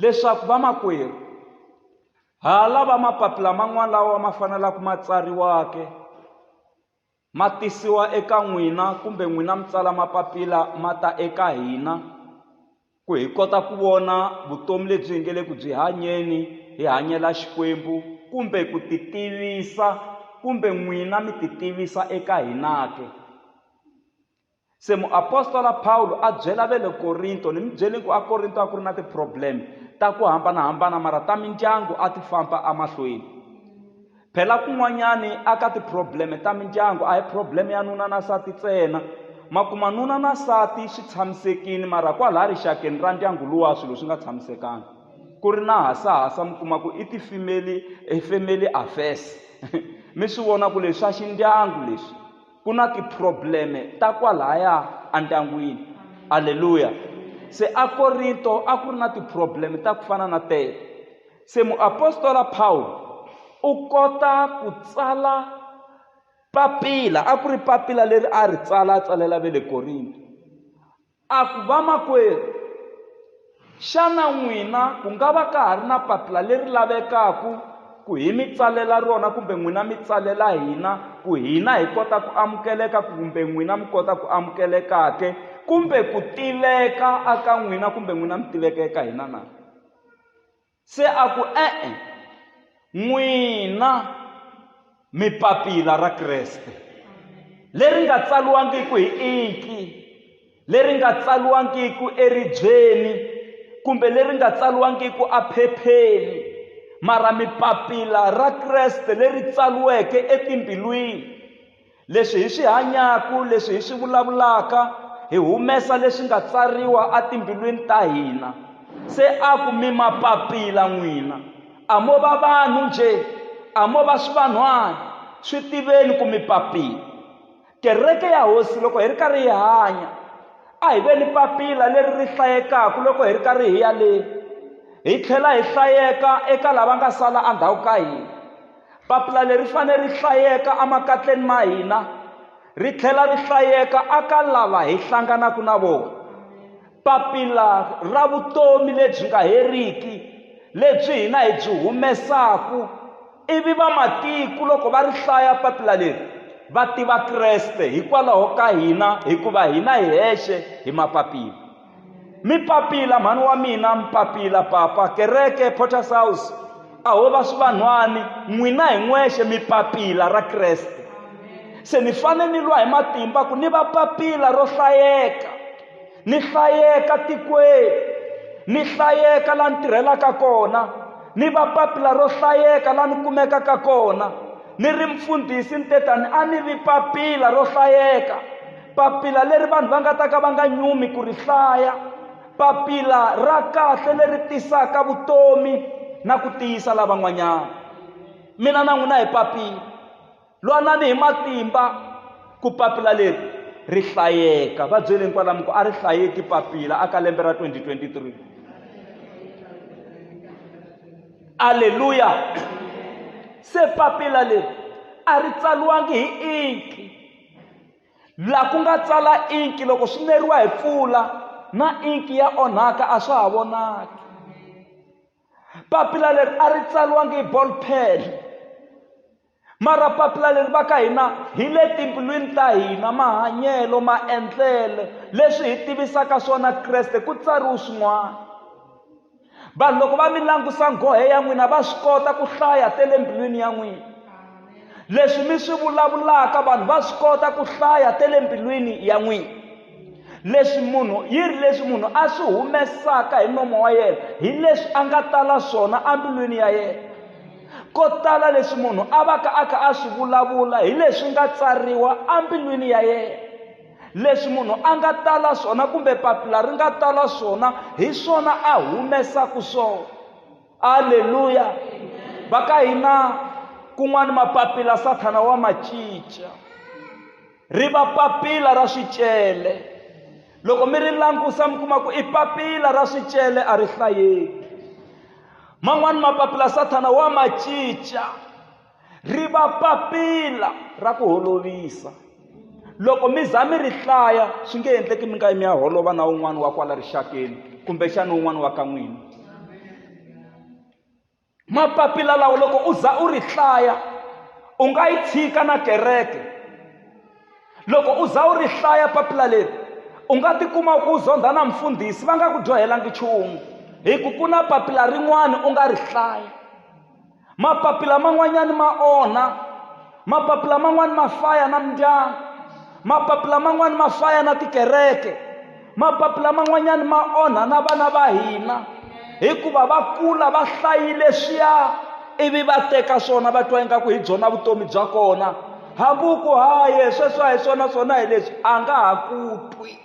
leswaku vamakwerhu ha lava mapapila man'wana lawa ma fanelaka ma tsariwake ma tisiwa eka n'wina kumbe n'wina mi tsala mapapila ma ta eka hina ku hi kota ku vona vutomi lebyi hi nge le ku byi hanyeni hi hanyela xikwembu kumbe ku ti tivisa kumbe n'wina mi ti tivisa eka hina ke Se muapostola Pawulo a byela ve le Korinto, ni mi byele ku aKorinto a ku ri na ti-problem ta ku hambana-hambana mara ta mindyangu a ti famba amahlweni. Phela kun'wanyani a ka ti-problem ta mindyangu a hi problem ya nuna na sati tsena, ma kuma nuna na sati swi tshamisekini mara kwalaya rixakeni ra ndyangu luwa swilo swi nga tshamisekanga ku ri na hasahasa mi kuma ku i ti-family family affairs mi swi vona ku leswi swa xindyangu leswi. ku na tiprobleme ta kwalaya endyangwini aleluya se akorinto a ku ri na tiprobleme ta ku fana na tete se muapostola pawulo u kota ku tsala papila a ku ri papila leri a ri tsala a tsalela ve le korinto A ku, Vamakwerhu, xana n'wina ku nga va ka ha ri na papila leri lavekaka ku hi mi tsalela rona kumbe n'wina mi tsalela hina ku hina hi kota ku amukeleka kumbe n'wina mi kota ku amukeleka ke, kumbe ku tiveka aka n'wina kumbe n'wina mi tiveka eka hina na? Se a ku, E-e, n'wina mi papila ra Kreste, leri nga tsaliwangiki hi inki, leri nga tsaliwangiki eribyeni kumbe leri nga tsaliwangiki aphepheni, mara mi papila ra Kreste leri tsaliweke etimbilwini. Leswi hi swi hanyaku, leswi hi swi vulavulaka, hi humesa leswi nga tsariwa atimbilwini ta hina. Se a ku, Mi ma papila n'wina. A mo va vanhu nje, a mo va swivanhwana. Swi tiveni ku mi papila. Kereke ya Hosi, loko hi ri karhi hi hanya, a hi ve ni papila leri ri hlayekaka loko hi ri karhi hi ya le, hi tlhela hi hlayeka eka lava nga sala andhawu ka hina. papila leri fanele ri hlayeka emakatleni ma hina ri tlhela ri hlayeka aka lava hi hlanganaka na vona papila ra vutomi lebyi nga heriki lebyi hina hi byi humesaku ivi vamatiko loko va ri hlaya papila leri va tiva kreste hikwalaho ka hina hikuva hina hi hexe hi mapapila mi papila mhani wa mina mi papila papa kereke porters house a ho va swivanhwani n'wina hi n'wexe mi papila ra kreste se ni fane ni lwa hi matimba ku ni va papila ro hlayeka ni hlayeka tikweni ni hlayeka la ni tirhelaka kona ni va papila ro hlayeka la ni kumekaka kona ni ri mfundhisi ni tetani a ni vi papila ro hlayeka papila leri vanhu va nga ta ka va nga nyumi ku ri hlaya papila ra kahle leri tisaka vutomi na ku tiyisa lavan'wanyana mina na n'wina hi papila lwanani hi matimba ku papila leri ri hlayeka va byeleni kwalamu ku a ri hlayeki papila aka lembe ra 2023 aleluya se papila leri a ri tsaliwangi hi inki laha ku nga tsala inki loko swi neriwa hi mpfula na inki ya onhaka a swa ha vonaki papila leri a ri tsaliwangi hi ball pen mara papila leri va ka hina hi le timbilwini ta hina mahanyelo maendlelo leswi hi tivisaka swona kreste ku tsariwe swin'wana vanhu loko va mi langusa nghohe ya n'wina va swi kota ku hlaya te le mbilwini ya n'wina leswi mi swi vulavulaka vanhu va swi kota ku hlaya te le mbilwini ya n'wina leswi munhu yi ri leswi munhu a swi humesaka hi nomo wa yena hi leswi a nga tala swona embilwini ya yena ko tala leswi munhu a va ka a kha a swi vulavula hi leswi nga tsariwa embilwini ya yena leswi munhu a nga tala swona kumbe papila ri nga tala swona hi swona a humesaka swona aleluya va ka hina kun'wana mapapila sathana wa ma cinca ri va papila ra swicele loko mi ri langusa mi kuma ku i papila ra swicele a ri hlayeki man'wani mapapila sathana wa ma cinca ri va papila ra ku holovisa loko mi za mi ri hlaya swi nge endleki mi nga yi mi ya holova na un'wana wa kwala rixakeni kumbexana un'wana wa ka n'wina mapapila lawa loko u za u ri hlaya u nga yi tshika na kereke loko u za u ri hlaya papila leri u nga tikuma ku zondha na mfundhisi va nga ku dyohelangi nchumu hi ku ku na papila rin'wana u nga ri hlaya mapapila man'wanyana ma onha mapapila man'wani ma faya na mindyangu mapapila man'wani ma faya na tikereke mapapila man'wanyani ma onha na vana va hina hikuva va kula va hlayile swiya ivi va teka swona va twa ingaku hi byona vutomi bya kona hambuku haye sweswi a hi swona swona hi leswi a nga ha ku twi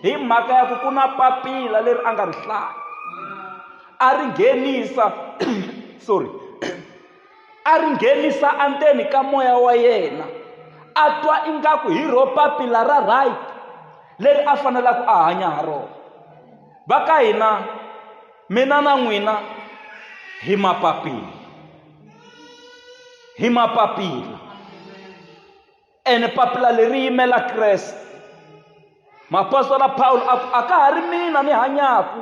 hi mhaka ya ku ku na papila leri a nga ri hlaya A ri nghenisa, sorry, a ri nghenisa andzeni ka moya wa yena a twa ingaku hi ro papila ra right leri a fanelaka a hanya ha rona va ka hina mina na n'wina hi mapapila hi mapapila ene papila leri yimela kreste mapostola pawulo a ku a ka ha ri mina ni hanyaku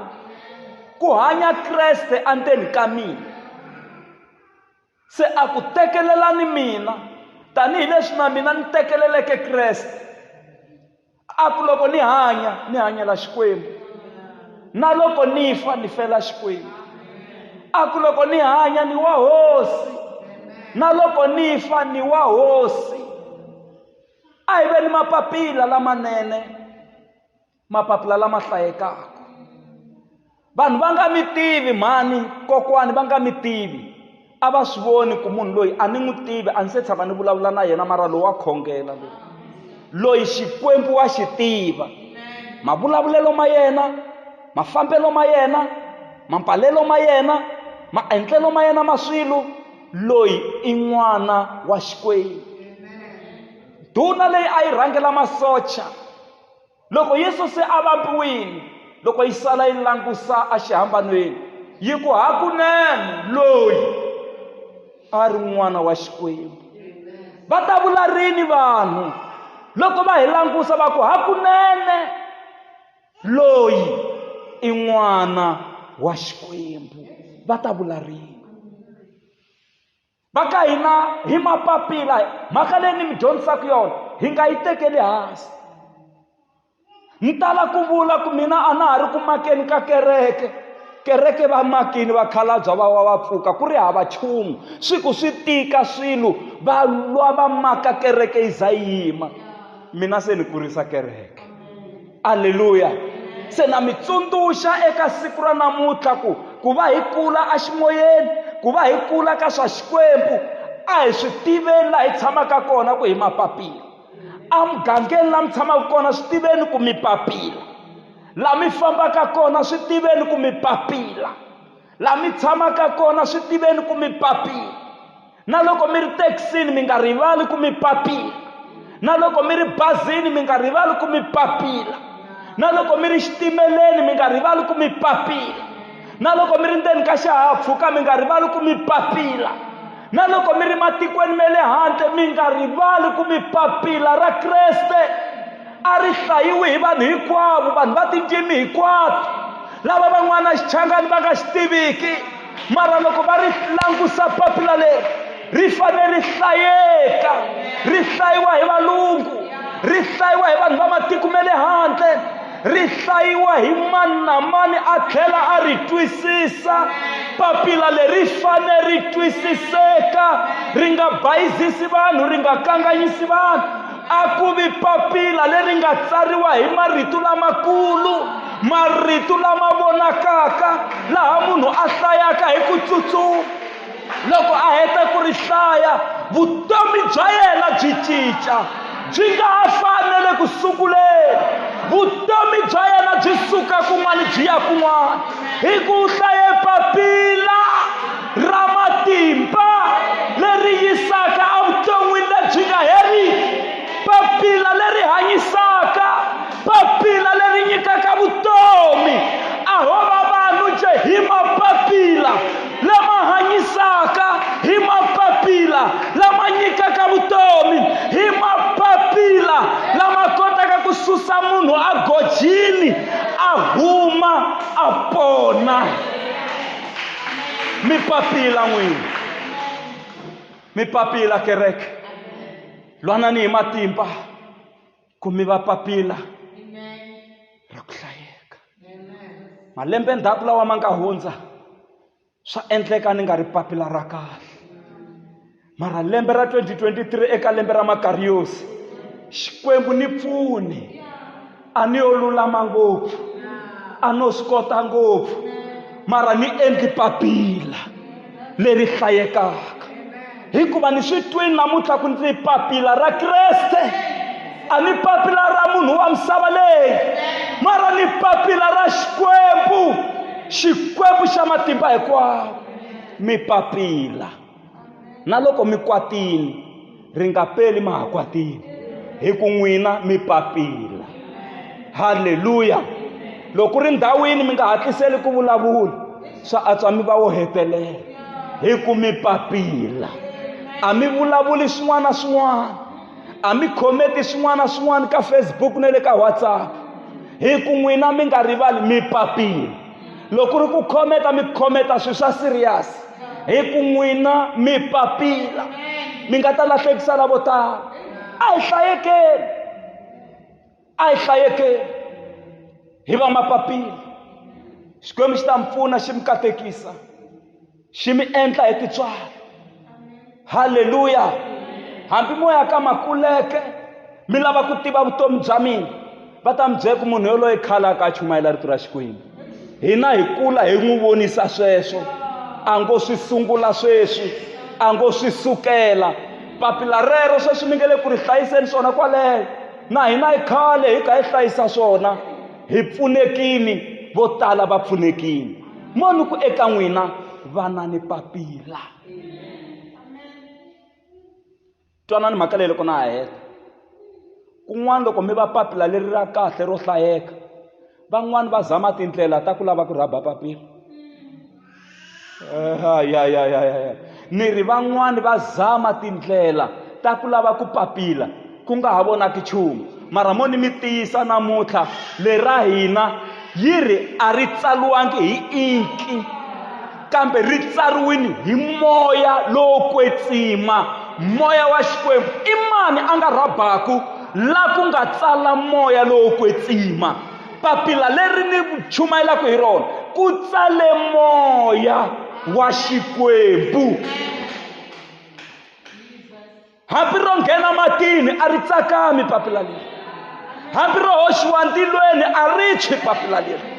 ku hanya kreste endzeni ka mina se a ku tekelelani mina tanihileswi na mina ni tekeleleke kreste a ku loko ni hanya ni hanyela xikwembu na loko ni fa ni fela xikwembu a ku loko ni hanya ni wa hosi na loko ni fa ni wa hosi a hi ve ni mapapila lamanene mapapila lama hlayekaka vanhu va nga mi tivi mhani kokwani va nga mi tivi a va swi voni ku munhu loyi a ni n'wi tivi a ni se tshama ni vulavula na yena mara lowu wa khongela loyi loyi xikwembu wa xi tiva mavulavulelo ma yena mafambelo ma yena mampalelo ma yena maendlelo ma yena ma swilo loyi i n'wana wa xikwembu duna leyi a yi rhangela masocha loko yesu se a vambiwile loko yi sala yi langusa exihambanweni yi ku hakunene loyi a ri n'wana wa xikwembu va ta vula rini vanhu loko va hi langusa va ku hakunene loyi i n'wana wa xikwembu va ta vula rini va ka hina hi mapapila mhaka leyi ni mi dyondzisaka yona hi nga yi tekeli hansi ni tala ku vula ku mina a na ha ri ku makeni ka kereke kereke va makini vakhalabya va wa va pfuka ku ri hava chumu swi ku swi tika swilo va lwa va maka kereke yi za yima mina se ni kurisa kereke aleluya se na mi tsundzuxa eka siku ra namuntlha ku ku va hi kula eximoyeni ku va hi kula ka swa xikwembu a hi swi tiveni laha hi tshamaka kona ku hi mapapila emugangeni laha mi tshamaka kona swi tiveni ku mi papila laha mi fambaka kona swi tiveni ku mi papila la mi tshamaka kona swi tiveni ku mi papila na loko mi ri thekisini mi nga rivali ku mi papila na loko mi ri bazini mi nga rivali ku mi papila na loko mi ri xitimeleni mi nga rivali ku mi papila na loko mi ri ndzeni ka xihahampfhuka mi nga rivali ku mi papila na loko mi ri matikweni ma le handle mi nga rivali ku mi papila ra kreste a ri hlayiwi hi vanhu hinkwavo vanhu va tindzimi hinkwato lava van'wana xichangani va nga xi tiviki mara loko va ri langusa papila leri ri fanele ri hlayeka ri hlayiwa hi valungu ri hlayiwa hi vanhu va matiko ma le handle ri hlayiwa hi mani na mani a tlhela a ri twisisa papila leri fanele ri twisiseka ri nga bayizisi vanhu ri nga kanganyisi vanhu a ku vi papila leri nga tsariwa hi marito lamakulu marito lama vonakaka laha munhu a hlayaka hi ku tsutsuma loko a heta ku ri hlaya vutomi bya yena byi cinca byi nga ha fanele ku sunguleni vutomi bya yena byi suka kun'wana byi ya kun'wana hi ku hlaye papila ra matimba leri yisaka evuton'wini lebyi nga heriki papila leri hanyisaka papila leri nyikaka vutomi a ho va vanhu je hi mapapila lama hanyisaka hi mapapila lama nyikaka vutomi hi mapapila lama kotaka ku susa munhu a gojini a huma a pona mi papila n'wini mi papila kereke lwanani hi matimba ku mi va papila ra ku hlayeka malembe ndzhaku lawa ma nga hundza swa endleka ni nga ri papila ra kahle mara lembe ra 2023 eka lembe ra makariyosi xikwembu ni pfuni a ni yo lulama ngopfu a no swi kota ngopfu mara ni endli papila leri hlayekaka hikuva ni swi twini namuntlha ku ndzi papila ra kreste a ni papila ra munhu wa misava leyi mara ni papila ra xikwembu xikwembu xa matimba hinkwawo mi papila na loko mi kwatile ri nga peli ma ha kwatile hi ku n'wina mi papila halleluya loko ku ri ndhawini mi nga hatliseli ku vulavula swa antswa mi va wo hetelela hi ku mi papila a mi vulavuli swin'wana na swin'wana a mi khometi swin'wana na swin'wana ka facebook na le ka whatsapp hi ku n'wina mi nga rivali mi papila loko ku ri ku khometa mi khometa swilo swa serious hi ku n'wina mi papila mi nga ta lahlekisa lavo tala a hi hlayekeni a hi hlayekeni hi va mapapila xikwembu xi ta mi pfuna xi mi katekisa xi mi endla hi titswalo halleluya hambi moya ka makuleke mi lava ku tiva vutomi bya mina va ta mi byela ku munhu yoloye khale a ka a chumayela rito ra xikwembu hina hi kula hi n'wi vonisa sweswo a ngo swi sungula sweswi a ngo swi sukela papila rero sweswi mi nge le ku ri hlayiseni swona kwaleyo na hina yi khale hi kha hi hlayisa swona hi pfunekini vo tala va pfunekini moni ku eka n'wina vana ni papila twanani mhaka leyi loko na ha heta kun'wana loko mi va papila leri ra kahle ro hlayeka van'wani va zama tindlela ta ku lava ku rhaba papila ya ya ya ya ya ni ri van'wani va zama tindlela ta ku lava ku papila ku nga ha vonaki nchumu mara mo ni mi tiyisa namuntlha lera hina yi ri a ri tsariwangi hi inki kambe ri tsariwini hi moya lowo kwetsima moya wa xikwembu i mani a nga rhabaku la ku nga tsala moya lowo kwetsima papila leri ni chumayelaka hi rona ku tsale moya wa xikwembu hambi ro nghena matini a ri tsakami papila leri hambi ro hoxiwa ntilweni a ri tshwi papila leri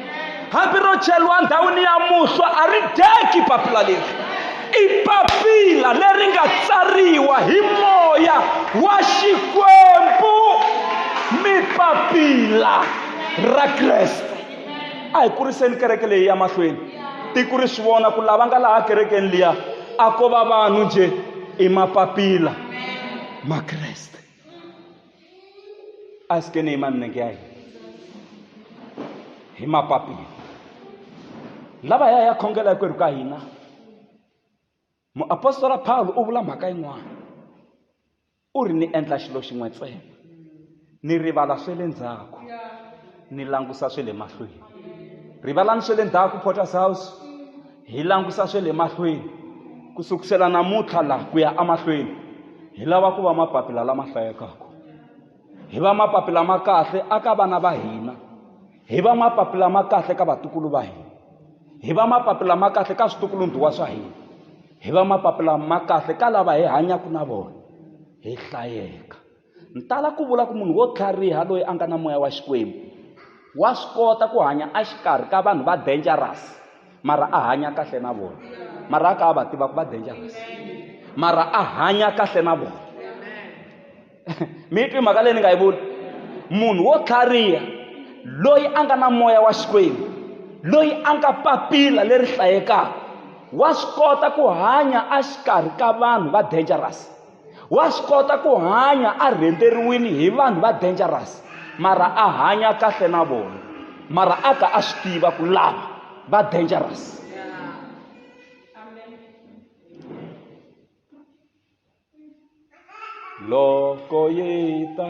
hambi ro cheriwa ndhawini ya muhlwa a ri dyeki papila leri i papila leri nga tsariwa hi moya wa xikwembu mi papila ra kreste a hi kuriseni kereke leyi ya mahlweni tiko ri swi vona ku lava nga laha kerekeni liya a ko va vanhu njhe i mapapila ma kreste a se ke ne ima nne ke a hi hi mapapila lava ya ya khongela hinkwerhu ka hina muapostola pawulo u vula mhaka yin'wana u ri ni endla xilo xin'we ntsena ni rivala swe le ndzhaku ni langusa swe le mahlweni rivalani swe le ndzhaku porters house hi langutisa swe le mahlweni ku sukusela namuntlha laha ku ya emahlweni hi lava ku va mapapila lama hlayekaka hi va mapapila ma kahle a ka vana va hina hi va mapapila ma kahle ka vatukulu va hina hi va mapapila ma kahle ka switukulundhuwa swa hina hi va mapapila ma kahle ka lava hi hanyaka na vona hi hlayeka Ni tala ku vula ku munhu wo tlhariha loyi a nga na moya wa Xikwembu wa swi kota ku hanya exikarhi ka vanhu va dangerous mara a hanya kahle na vona mara a ka a va tiva ku va dangerous mara a hanya kahle na vona mi twi mhaka leyi ni nga yi vula munhu wo tlhariha loyi a nga na moya wa Xikwembu loyi a nga papila leri hlayekaka wa swi kota ku hanya exikarhi ka vanhu va dangerous wa swi kota ku hanya a rhenteriwile hi vanhu va dangerous mara a hanya kahle na vona mara a ka a swi tiva ku lava va dangerous loko yi ta